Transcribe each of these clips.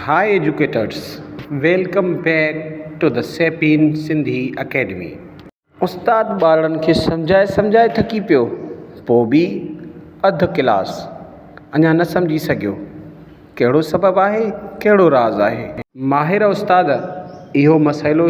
High educators welcome back to the Sapien Sindhi academy. استاد ٻارڙن کي سمجهائي سمجهائي ٿڪي پيو پوء به اڌ ڪلاس اڃا نه سمجهي سگهيو ڪهڙو سبب آهي ڪهڙو راز آهي. ماهر استاد اهو مسئلو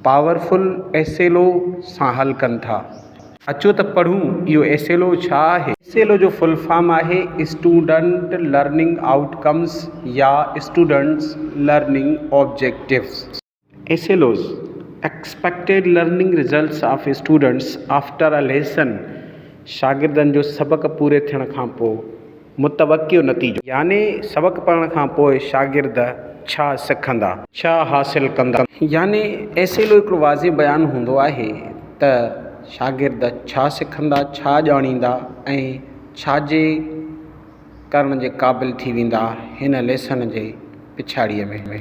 پاورفل ايسيلو سان حل ڪن ٿا. اچو ته پڙهون اهو ايس ايل او ڇا آهي؟ ايس ايل او جو فل فارم آهي اسٽوڊنٽ لرننگ آئوٽ ڪمز يا students learning objectives. S L Os, expected learning results of students after a lesson, شاگردن جو سبق پوري ٿيڻ کان پوء. متوقع نتيجو. يعني سبق پڙهڻ کان پوء شاگرد ڇا سکندا؟ ڇا حاصل ڪندا؟ يعني ايس ايل او هڪڙو واضح بيان هوندو آهي ته شاگرد ڇا سکندا، ڇا ڄاڻيندا ۽ ڇا جي ڪرڻ جي قابل ٿي ويندا هن ليسن جي پڇاڙيء ۾.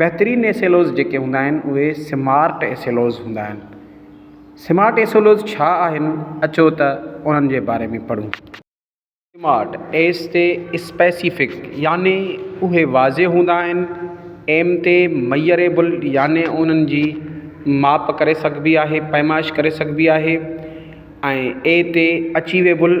بهترين ايس ايل اوز جيڪي هوندا آهن اهي سمارٽ ايس ايل اوز هوندا آهن سمارٽ ايس ايل اوز ڇا آهن اچو ته انهن جي باري ۾ پڙهون سمارٽ ايس تي اسپيسيفڪ يعني اهي واضح هوندا آهن ايم تي ميئريبل يعني انهن جي ماپ ڪري سگهبي آهي پيمائش ڪري سگهبي آهي ۽ اي تي اچيويبل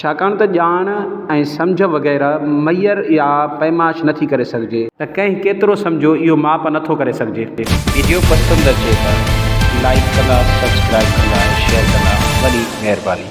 ڇاڪاڻ ته ڄاڻ ۽ سمجهه وغيره معير يا پيمائش نٿي ڪري سگهجي. ته ڪنهن ڪيترو سمجهيو اهو ماپ نٿو ڪري سگهجي. ويڊيو پسند اچي ته لائيڪ ڪندا سبسڪرائيب ڪندا ۽ شيئر ڪندا وڏي مهرباني.